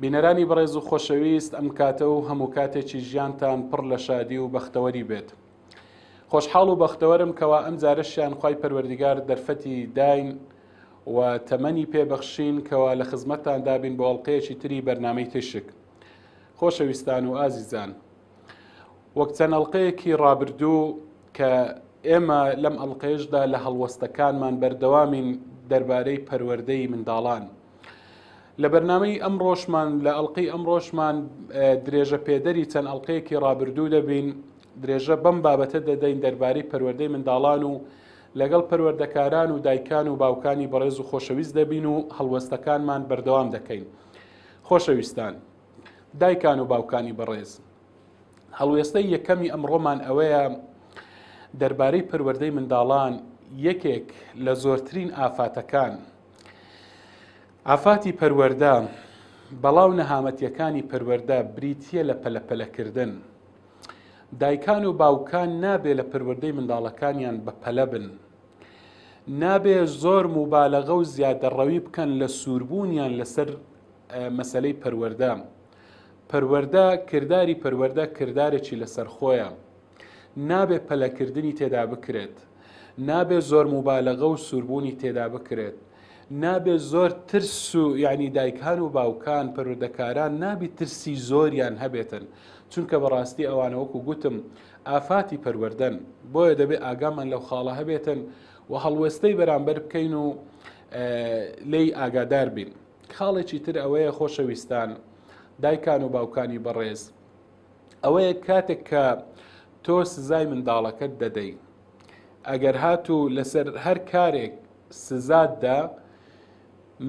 بینەرانی بەڕێز و خۆشەویست ئەم کاتە و هەموو کاتێکی ژیانتان پڕ لە شادی و بەختەوەری بێت. خۆشحاڵ و بەختەوەرم کەوا ئەم جارەشیان خی پەروەردیگار دەرفەتی داین و تەمەنی پێبەخشین کەوا لە خزمەتتان دابین بۆ ئەڵلقەیەکی تری بەرنمەی تیشک. خۆشەویستان و ئازیزان. وەک چەند ئەڵلقەیەکی ڕابردوو کە ئێمە لەم ئەڵلقەیشدا لە هەڵوەستەکانمان بەردەوامین دەربارەی پەروەردەی منداڵان. لە بەرنمەی ئەم ڕۆژمان لە ئەڵلقەی ئەم ڕۆژمان درێژە پێدەری چەند ئەڵلقەیەکی ڕابردوو دەبین درێژە بەم بابەتە دەدەین دەربارەی پەروەردەی منداڵان و لەگەڵ پەروەردەکاران و دایکان و باوکانی بەڕێز و خۆشەویست دەبین و هەڵوەستەکانمان بەردەوام دەکەین خۆشەویستان. دایکان و باوکانی بەڕێز هەڵوێستەی یەکەمی ئەمڕۆمان ئەوەیە دەربارەی پەروەردەی منداڵان یەکێک لە زۆرترین ئافاتەکان ئافاتی پەروەەردە بەڵاو نەهامەتیەکانی پەروەەردە بریتە لە پەلەپەلەکردن دایکان و باوکان نابێ لە پەروەەردەی منداڵەکانیان بە پەلە بن نابێ زۆر موبالەغە و زیادەڕەوی بکەن لە سووربوونیان لەسەر مەسەلەی پەروەردە پەروەردە کرداری پەروەردە کردارێکی لەسەر خۆیە نابێ پەلەکردنی تێدا بکرێت نابێ زۆر موبالەغە و سووربوونی تێدا بکرێت نابێ زۆر ترس و یعنی دایکان و باوکان پەرودەکاران نابی ترسی زۆریان هەبێتن چونکە بەڕاستی ئەوانە وەکو گوتم ئافاتی پەروەردەن بۆیە دەبێ ئاگامان لەو خاڵە هەبێتن و هەڵوێستەی بەرامبەر بکەین و لی ئاگادار بین خاڵێکی تر ئەوەیە خۆشەویستان دایکان و باوکانی بەڕێز ئەوەیە کاتێک کە تۆ سزای منداڵەکەت دەدەی ئەگەر هاتوو لەسەر هەر کارێک سزاددا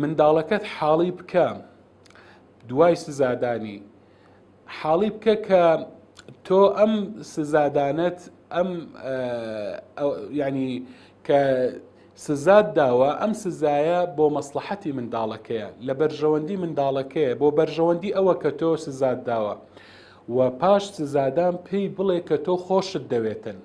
منداڵەکەت حاڵی بکە دوای سزادانی حاڵی بکە کە تۆ ئەم سزادانەت ئەم ینی کە سزاد داوە ئەم سزایە بۆ مەسلحەتی منداڵەکەیە لە بەرژەوەندی منداڵەکەیە بۆ بەرژەوەندی ئەوە کە تۆ سزاد داوە و پاش سزادان پێی بڵێ کە تۆ خۆشت دەوێتن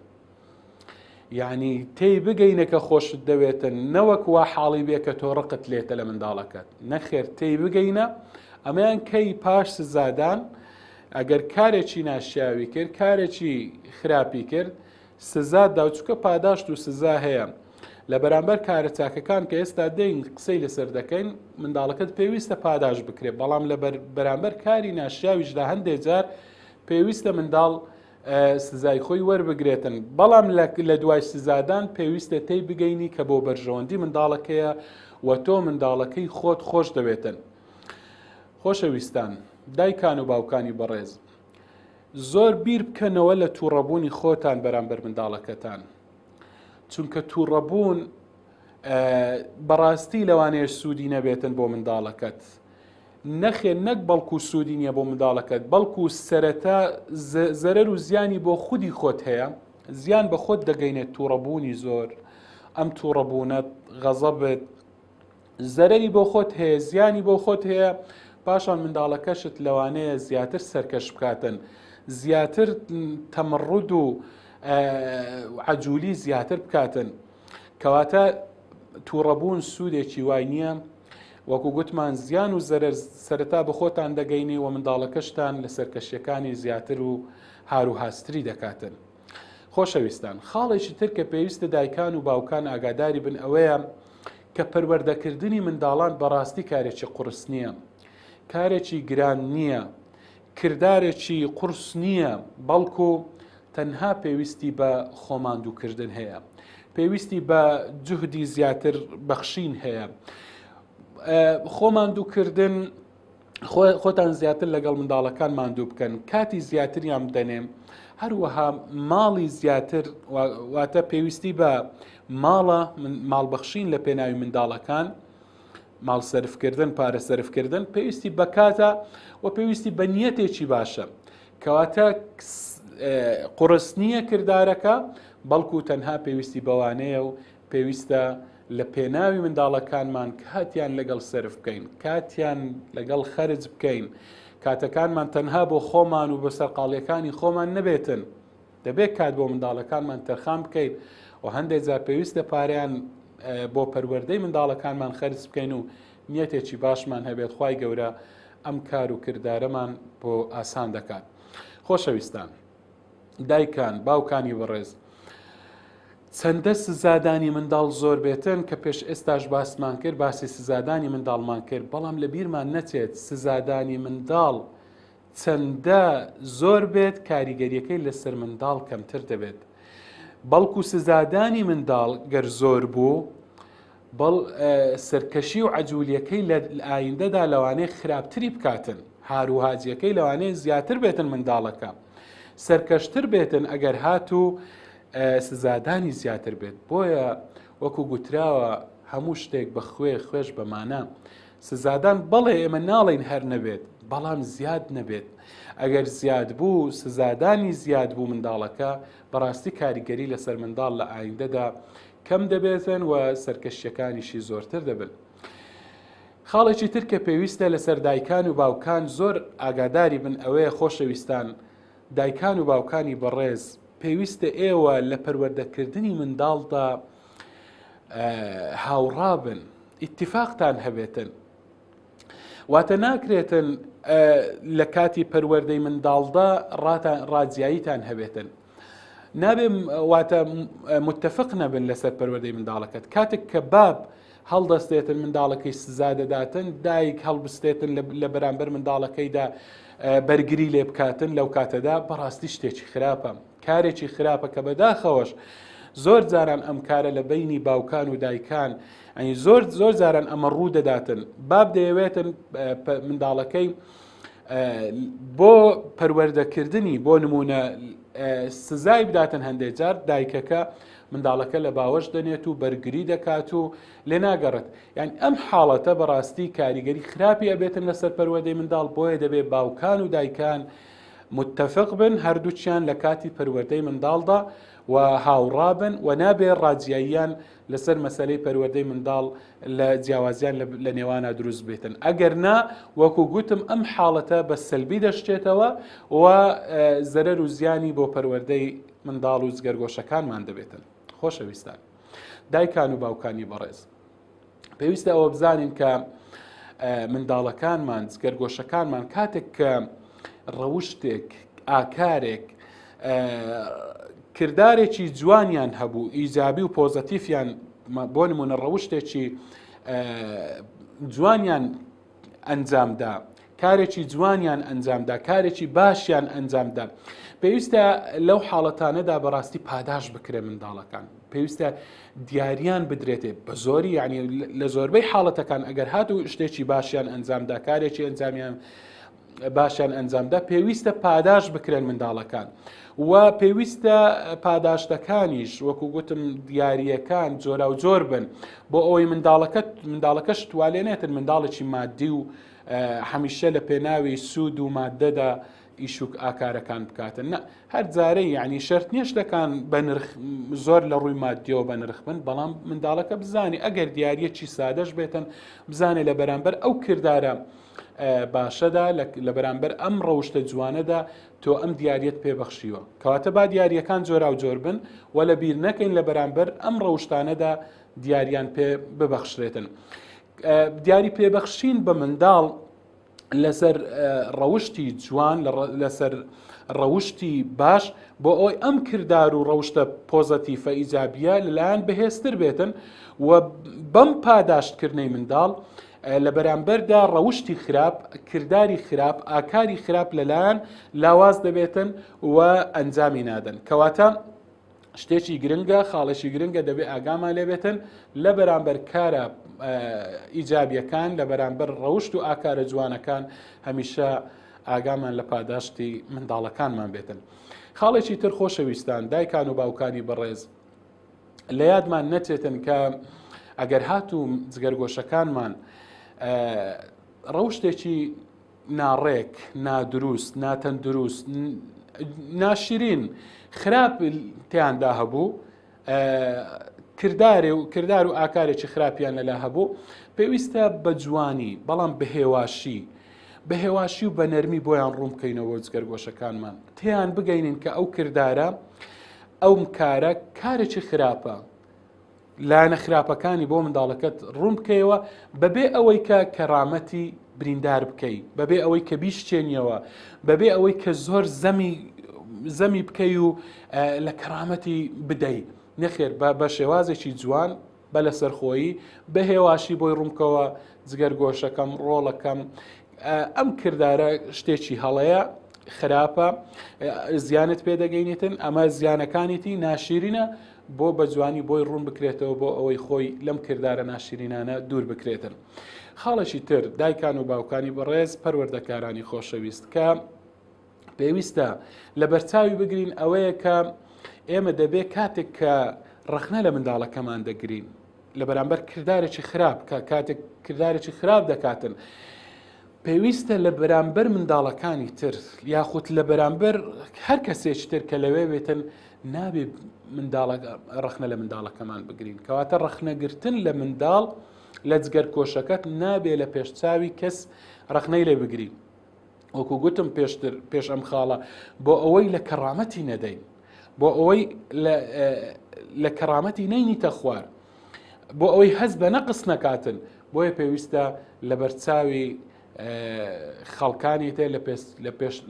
یانی تێی بگەینە کە خۆشت دەوێتن نەوەک وا حاڵی بێ کە تۆ ڕقت لێتە لە منداڵەکەت نەخێر تێی بگەینە ئەمەیان کەی پاش سزادان ئەگەر کارێکی ناشیاوی کرد کارێکی خراپی کرد سزا داوچکە پاداشت و سزا هەیە لە بەرامبەر کارە چاکەکان کە ئێستا دەین قسەی لەسەر دەکەین منداڵەکەت پێویستە پاداش بکرێت بەڵام لە بەرامبەر کاری ناشیاویشدا هەندێک جار پێویستە منداڵ سزای خۆی وەربگرێتن بەڵام لە دوای سزادان پێویستە تێی بگەینی کە بۆ بەرژەوەندی منداڵەکەیە و تۆ منداڵەکەی خۆت خۆش دەوێتن خۆشەویستان دایکان و باوکانی بەڕێز زۆر بیر بکەنەوە لە تووڕەبوونی خۆتان بەرامبەر منداڵەکەتان چونکە تووڕەبوون بەڕاستی لەوانەیە سوودی نەبێتن بۆ منداڵەکەت نەخێر نەک بەڵکو سودی نیە بۆ منداڵەکەت بەڵکو سەرەتا زەرەر و زیانی بۆ خودی خۆت هەیە زیان بە خۆت دەگەینێت توڕەبوونی زۆر ئەم توڕەبوونەت غەزەبت زەرەری بۆ خۆت هەیە زیانی بۆ خۆت هەیە پاشان منداڵەکەشت لەوانەیە زیاتر سەرکەش بکاتن زیاتر تەمەڕود و عجولی زیاتر بکاتن کەواتە تووڕەبوون سوودێکی وای نییە وەکو گوتمان زیان و زەرەر سەرەتا بە خۆتان دەگەینی و منداڵەکەشتان لە سەرکەشیەکانی زیاتر و هارو هاستری دەکاتن. خۆشەویستان خاڵێکی تر کە پێویستە دایکان و باوکان ئاگاداری بن ئەوەیە کە پەروەردەکردنی منداڵان بەڕاستی کارێکی قوڕس نییە. کارێکی گران نییە. کردارێکی قورس نییە، بەڵکو تەنها پێویستی بە خۆماندووکردن هەیە، پێویستی بە جوهدی زیاتر بەخشین هەیە. خۆماندووکردن خۆتان زیاتر لەگەڵ منداڵەکان ماندوو بکەن کاتی زیاتریان بدەنێ هەروەها ماڵی زیاتر واتە پێویستی بە ماڵە ماڵبەخشین لە پێناوی منداڵەکان ماڵ سەرفکردن پارە سەرفکردن پێویستی بەکاتە و پێویستی بە نیەتێکی باشە کەواتە قڕس نییە کردارەکە بەڵکو تەنها پێویستی بەوانەیە و پێویستە لە پێناوی منداڵەکانمان کاتیان لەگەڵ سرف بکەین کاتیان لەگەڵ خەرج بکەین کاتەکانمان تەنها بۆ خۆمان و بە سەرقاڵیەکانی خۆمان نەبێتن دەبێت کات بۆ منداڵەکانمان تەرخان بکەین و هەندێک جار پێویستە پاریان بۆ پەروەردەی منداڵەکانمان خەرج بکەین و نیەتێکی باشمان هەبێت خی گەورە ئەم کار و کردارەمان بۆ ئاسان دەکات خۆشەویستان دایکان باوکانی بەڕێز چەندە سزادانی منداڵ زۆر بێتن کە پێش ئێستاش باسمان کرد باسی سزادانی منداڵمان کرد بەڵام لە بیرمان نەچێت سزادانی منداڵ چەندە زۆر بێت کاریگەریەکەی لەسەر منداڵ کەمتر دەبێت بەڵکو سزادانی منداڵ گەر زۆر بوو بەڵ سەرکەشی و عجولیەکەی لە ئایندەدا لەوانەیە خراپتری بکاتن هاروهاجیەکەی لەوانەیە زیاتر بێتن منداڵەکە سەرکەشتر بێتن ئەگەر هاتوو سزادانی زیاتر بێت بۆیە وەکو گوتراوە هەموو شتێک بە خوێ خوێش بەمانە سزادان، بەڵێ ئێمە ناڵێین هەر نەبێت، بەڵام زیاد نەبێت، ئەگەر زیاد بوو سزادانی زیاد بوو منداڵەکە بەڕاستی کاریگەری لەسەر منداڵ لە ئایندەدا کەم دەبێتن و سەرکەشیەکانیشی زۆرتر دەبن. خاڵێکی تر کە پێویستە لەسەر دایکان و باوکان زۆر ئاگاداری بن ئەوەیە خۆشەویستان دایکان و باوکانی بەڕێز پێویستە ئێوە لە پەروەردەکردنی منداڵدا هاوڕابن ئیتفاقتان هەبێتن واتە ناکرێتن لە کاتی پەروەردەی منداڵدا ڕاجاییتان هەبێتن نابێ واتە متتەفق نەبن لەسەر پەروەردەی منداڵەکەت کاتێک کە باب هەڵدەستێتن منداڵەکەی سزا دەداتن دایک هەڵبستێتن لە بەرامبەر منداڵەکەیدا بەرگری لێ بکاتن لەو کاتەدا بەڕاستی شتێکی خراپە کارێکی خراپە کە بەداخەوەش زۆر جاران ئەم کارە لە بینی باوکان و دایکان ئەنی زۆر زۆر جاران ئەمە ڕوو دەداتن باب دەیەوێتن منداڵەکەی بۆ پەروەردەکردنی بۆ نمونە سزای بداتن هەندێک جار دایکەکە منداڵەکە لە باوەش دەنێت و بەرگری دەکات و لێ ناگەڕێت یان ئەم حاڵەتە بەڕاستی کاریگەری خراپی ئەبێتن لەسەر پەروەدەی منداڵ بۆیە دەبێت باوکان و دایکان متفق بن هەردووکیان لە کاتی پەروەردەی منداڵدا و هاوڕابن و نابێ ڕاجیاییان لەسەر مەسلەی پەروەردەی منداڵ لە جیاوازیان لە نێوانە دروست بێتن ئەگەر نا وەکو گوتم ئەم حاڵەتە بە سەلبی دەشتێتەوە و زەرەر و زیانی بۆ پەروەردەی منداڵ و جگەرگۆشەکانمان دەبێتن خۆشەویستان دایکان و باوکانی بەڕێز پێویستە ئەوە بزانین کە منداڵەکانمان جگەرگۆشەکانمان کاتێک کە ڕەوشتێک ئاکارێک کردارێکی جوانیان هەبوو ئیجابی و پۆزەتیفیان بۆ نمونە ڕەوشتێکی جوانیان ئەنجامدا کارێکی جوانیان ئەنجامدا کارێکی باشیان ئەنجامدا پێویستە لەو حاڵەتانەدا بەڕاستی پاداش بکرێ منداڵەکان پێویستە دیاریان بدرێتێ بە زۆری یعنی لە زۆربەی حاڵەتەکان ئەگەر هاتوو شتێکی باشیان ئەنجامدا کارێکی ئەنجامیان باشیان ئەنجامدا پێویستە پاداش بکرێن منداڵەکان و پێویستە پاداشتەکانیش وەکو گوتم دیارریەکان جۆرا و جۆر بن بۆ ئەوەی منداڵەکە منداڵەکەش توالێنێتن منداڵێکی مادی و هەمیشە لە پێناوی سوود و مادەدا ئیشوک ئاکارەکان بکاتن نە هەر جارەی یعنی شرت نییە شتەکان بە نرخ زۆر لە ڕووی مادیەوە بە نرخ بن بەڵام منداڵەکە بزانانی ئەگەر دیارە چی سادەش بێتن بزانێ لە بەرامبەر ئەو کردارە باشەدا لە بەرامبەر ئەم ڕەوشتە جوانەدا تۆ ئەم دیارەت پێبەخشیوە کەواتە با دیارەکان جۆرا و جۆر بن و لە بیر نەکەین لە بەرامبەر ئەم ڕەوشتانەدا دیاریان پێ ببەخشرێتن. دیاری پێبەخشین بە منداڵ لەسەر ڕەوشتی جوان لەسەر ڕەوشتی باش بۆ ئەوی ئەم کردار و ڕەوشتە پۆزەتیفە ئیجابیە لەلایەن بەهێزتر بێتن و بەم پاداشتکردنەی منداڵ لە بەرامبەردا ڕەوشتی خراپ، کرداری خراپ، ئاکاری خراپ لەلایان لاواز دەبێتن و ئەنجامی نادەن. کەواتە شتێکی گرنگە، خاڵێکی گرنگە دەبێ ئاگامان لێبێتن لە بەرامبەر کارە ئیجابیەکان لە بەرامبەر ڕەوشت و ئاکارە جوانەکان هەمیشە ئاگامان لە پاداشتی منداڵەکانمان بێتن. خاڵێکی تر خۆشەویستان دایکان و باوکانی بەڕێز لە یادمان نەچێتن کە ئەگەر هاتوو جگەرگۆشەکانمان ڕەوشتێکی ناڕێک نادروست ناتەندروست ناشرین خراپ تیاندا هەبوو کردارێ و کردار و ئاکارێکی خراپیان لەلا هەبوو پێویستە بە جوانی بەڵام بەهێواشی بە هێواشی و بە نەرمی بۆیان ڕوون بکەینەوە جگەرگۆشەکانمان تیان بگەینین کە ئەو کردارە ئەم کارە کارێکی خراپە. لایەنە خراپەکانی بۆ منداڵەکەت ڕوون بکەیەوە بەبێ ئەوەی کە کەڕامەتی بریندار بکەی بەبێ ئەوەی کە بیشتێنیەوە بەبێ ئەوەی کە زۆر زەمی زەمی بکەی و لە کەڕامەتی بدەی نەخێر بە بە شێوازێکی جوان بە لەسەرخۆیی، بە هێواشی بۆی ڕوومکەوە، جگەرگۆشەکەم، ڕۆڵەکەم. ئەم کردارە شتێکی هەڵەیە، خراپە، زیانت پێدەگەینێتن، ئەمە زیانەکانیتی ناشیرینە، بۆ بە جوانی بۆی ڕوون بکرێتەوە بۆ ئەوەی خۆی لەم کردارە ناشرینانە دوور بکرێتن خاڵێکی تر دایکان و باوکانی بەڕێز پەروەردەکارانی خۆشەویست کە پێویستە لە بەرچاوی بگرین ئەوەیە کە ئێمە دەبێت کاتێک کە ڕخنە لە منداڵەکەمان دەگرین لە بەرامبەر کردارێکی خراپ کە کاتێک کردارێکی خراپ دەکاتن. پێویستە لە بەرامبەر منداڵەکانی تر یاخود لە بەرامبەر هەر کەسێک تر کە لەوێ بێتن نابێ ڕخنە لە منداڵەکەمان بگرین کەواتە ڕخنەگرتن لە منداڵ لە جگەر کۆشەکەت نابێ لە پێشچوی کەس ڕخنەی لێ بگرین وەکو گوتم پێشتر پێش ئەم خاڵە بۆ ئەوەی لە کەڕامەتی نەدەین بۆ ئەوەی لە کەڕامەتی نەینیتە خوار بۆ ئەوەی هەز بە نەقس نەکاتن بۆیە پێویستە لە بەرچاوی خەڵکانی تر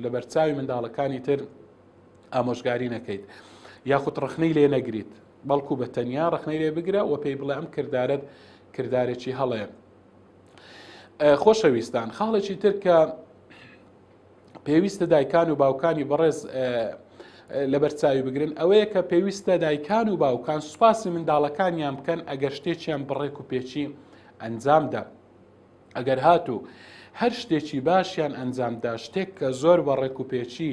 لە بەرچاوی منداڵەکانی تر ئامۆژگاری نەکەیت یاخود ڕخنەی لێ نەگریت بەڵکو بە تەنیا ڕخنەی لێ بگرە و پێی بڵێ ئەم کردارت کردارێکی هەڵەیە خۆشەویستان خاڵێکی تر کە پێویستە دایکان و باوکانی بەڕێز لەبەرچاوی بگرن ئەوەیە کە پێویستە دایکان و باوکان سوپاسی منداڵەکانیان بکەن ئەگەر شتێکیان بڕێک و پێچی ئەنجامدا ئەگەر هاتوو هەر شتێکی باشیان ئەنجامدا شتێک کە زۆر بە ڕێک و پێچی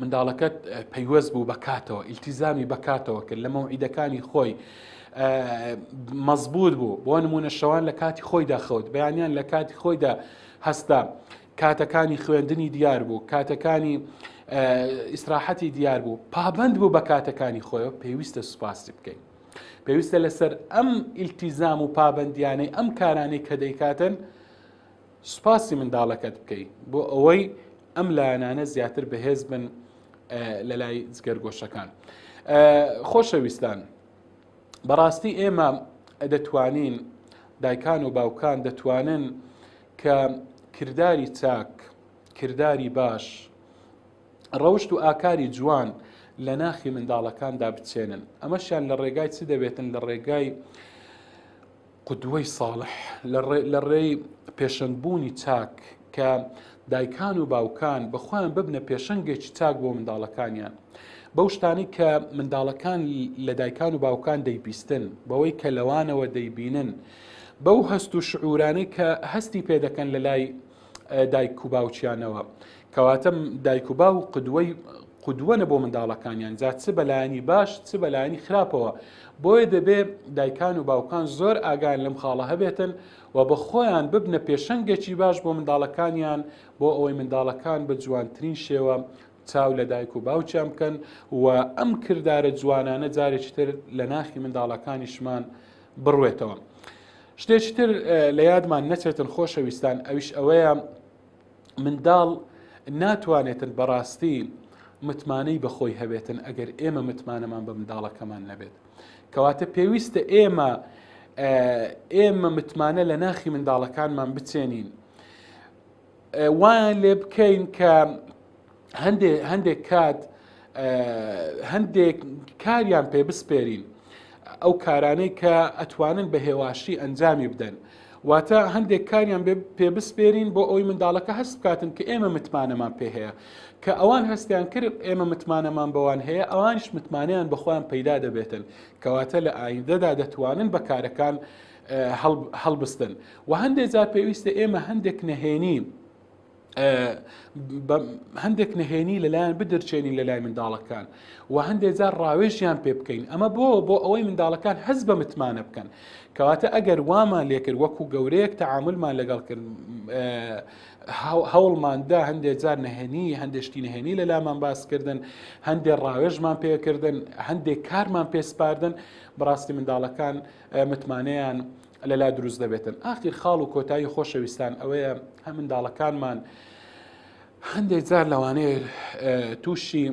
منداڵەکەت پەیوەست بوو بەکاتەوە ئیلتیزامی بەکاتەوە کرد لە مەوعیدەکانی خۆی مەزبوط بوو بۆ نمونە شەوان لە کاتی خۆیدا خەوت بەیانیان لە کاتی خۆیدا هەستا کاتەکانی خوێندنی دیار بوو کاتەکانی ئیسراحەتی دیار بوو پابند بوو بە کاتەکانی خۆیەوە پێویستە سوپاسی بکەین پێویستە لەسەر ئەم ئیلتیزام و پابندیانەی ئەم کارانەی کە دەیکاتن سوپاسی منداڵەکەت بکەی بۆ ئەوەی ئەم لایەنانە زیاتر بەهێز بن لە لای جگەرگۆشەکان خۆشەویستان بەڕاستی ئێمە دەتوانین دایکان و باوکان دەتوانن کە کردداری چاک کردداری باش ڕەوشت و ئاکاری جوان لە ناخی منداڵەکاندا بچێنن ئەمەشیان لە ڕێگای چ دەبێتن لە ڕێگای قودوەی ساڵح، لە ڕێی پێشەنگبوونی چاک، کە دایکان و باوکان بە خۆیان ببنە پێشەنگێکی چاک بۆ منداڵەکانیان، بەو شتانەی کە منداڵەکان لە دایکان و باوکان دەیبیستن، بەوەی کە لەوانەوە دەیبینن، بەو هەست و شعوورانەی کە هەستی پێ دەکەن لەلای دایک و باوکیانەوە کەواتە دایک و با و قدوەی قدوەە بۆ منداڵەکانیان جا چ بەلایانی باش چ بەلایانی خراپەوە بۆیە دەبێ دایکان و باوکان زۆر ئاگان لەم خاڵە هەبێتن و بە خۆیان ببنە پێشەنگێکی باش بۆ منداڵەکانیان بۆ ئەوەی منداڵەکان بە جوانترین شێوە چاو لە دایک و باوچیان بکەن و ئەم کردارە جوانانە جارێکی تر لە ناخی منداڵەکانیشمان بڕوێتەوە شتێکی تر لە یادمان نەچێتن خۆشەویستان ئەویش ئەوەیە منداڵ ناتوانێتن بەڕاستی متمانەی بەخۆی هەبێتن ئەگەر ئێمە متمانەمان بە منداڵەکەمان نەبێت کەواتە پێویستە ئێمە ئێمە متمانە لە ناخی منداڵەکانمان بچێنین وایان لێ بکەین کە هەندێک هەندێک کات هەندێک کاریان پێ بسپێرین ئەو کارانەی کە ئەتوانن بە هێواشی ئەنجامی بدەن واتە هەندێک کاریان پێ بسپێرین بۆ ئەوی منداڵەکە هەست بکاتن کە ئێمە متمانەمان پێ هەیە کە ئەوان هەستیان کرد ئێمە متمانەمان بەوان هەیە ئەوانش متمانیان بەخۆیان پەیدا دەبێتن کەواتە لە ئایندەدا دەتوانن بە کارەکان هەڵبستن و هەندێک جار پێویستە ئێمە هەندێک نەهێنی هەندێک نهێنی لەلایەن بدرچێنین لە لای منداڵەکان و هەندێک جار ڕاوێژیان پێ بکەین ئەمە بۆ بۆ ئەوەی منداڵەکان هەز بە متمانە بکەن کەواتە ئەگەر وامان لێکرد وەکو گەورەیەک تعاملمان لەگەڵ کرد هەوڵماندا هەندێک جار نهێنی هەندێشتی نهێنی لە لامان باسکردن هەندێک ڕاوێژمان پێکردن هەندێک کارمان پێسپاردن بەڕاستی منداڵەکان متمانەیان لەلا دروست دەبێتن ئاخیر خاڵ و کۆتایی خۆشەویستان ئەوەیە هە منداڵەکانمان هەندێک جار لەوانەیە تووشی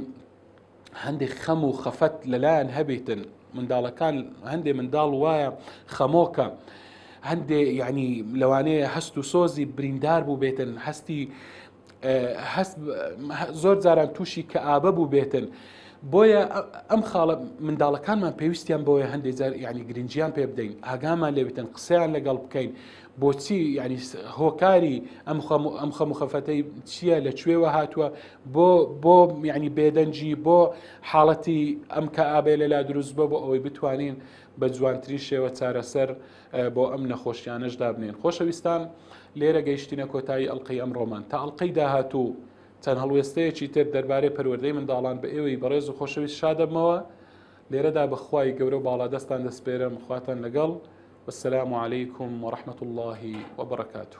هەندێک خەم و خەفەت لەلایەن هەبیتن منداڵەکان هەندێک منداڵ وایە خەمۆکە. هەندێ یعنی لەوانەیە هەست و سۆزی بریندار بوو بێتن هەستی زۆر جاران تووشی کە ئابە بوو بێتن. بۆیە ئەم خاڵە منداڵەکانمان پێویستیان بۆیە هەندێک جار ینی گرنجیان پێ بدەین ئاگامان لێ بتن قسەیان لەگەڵ بکەین بۆچی ینی هۆکاری ئەم ئەم خەم خەفەتەی چییە لە کوێوە هاتووە بۆ بۆ ینی بێدەنجی بۆ حاڵەتی ئەم کە ئابێ لەلا دروست بە بۆ ئەوەی بتوانین بە جوانترین شێوە چارەسەر بۆ ئەم نەخۆشیانەش دابنێن خۆشەویستان لێرە گەیشتینە کۆتایی ئەلقەی ئەم ڕۆمان تا ئەلقەی داهاتوو چەند هەڵوێستەیەکی تر دەربارەی پەروەردەی منداڵان بە ئێوەی بەڕێز و خۆشەویست شادەبمەوە لێرەدا بەخوای گەورە و باڵادەستان دەسپێرم خواتان لەگەڵ والسلام عليكم ورحمة الله وبركاته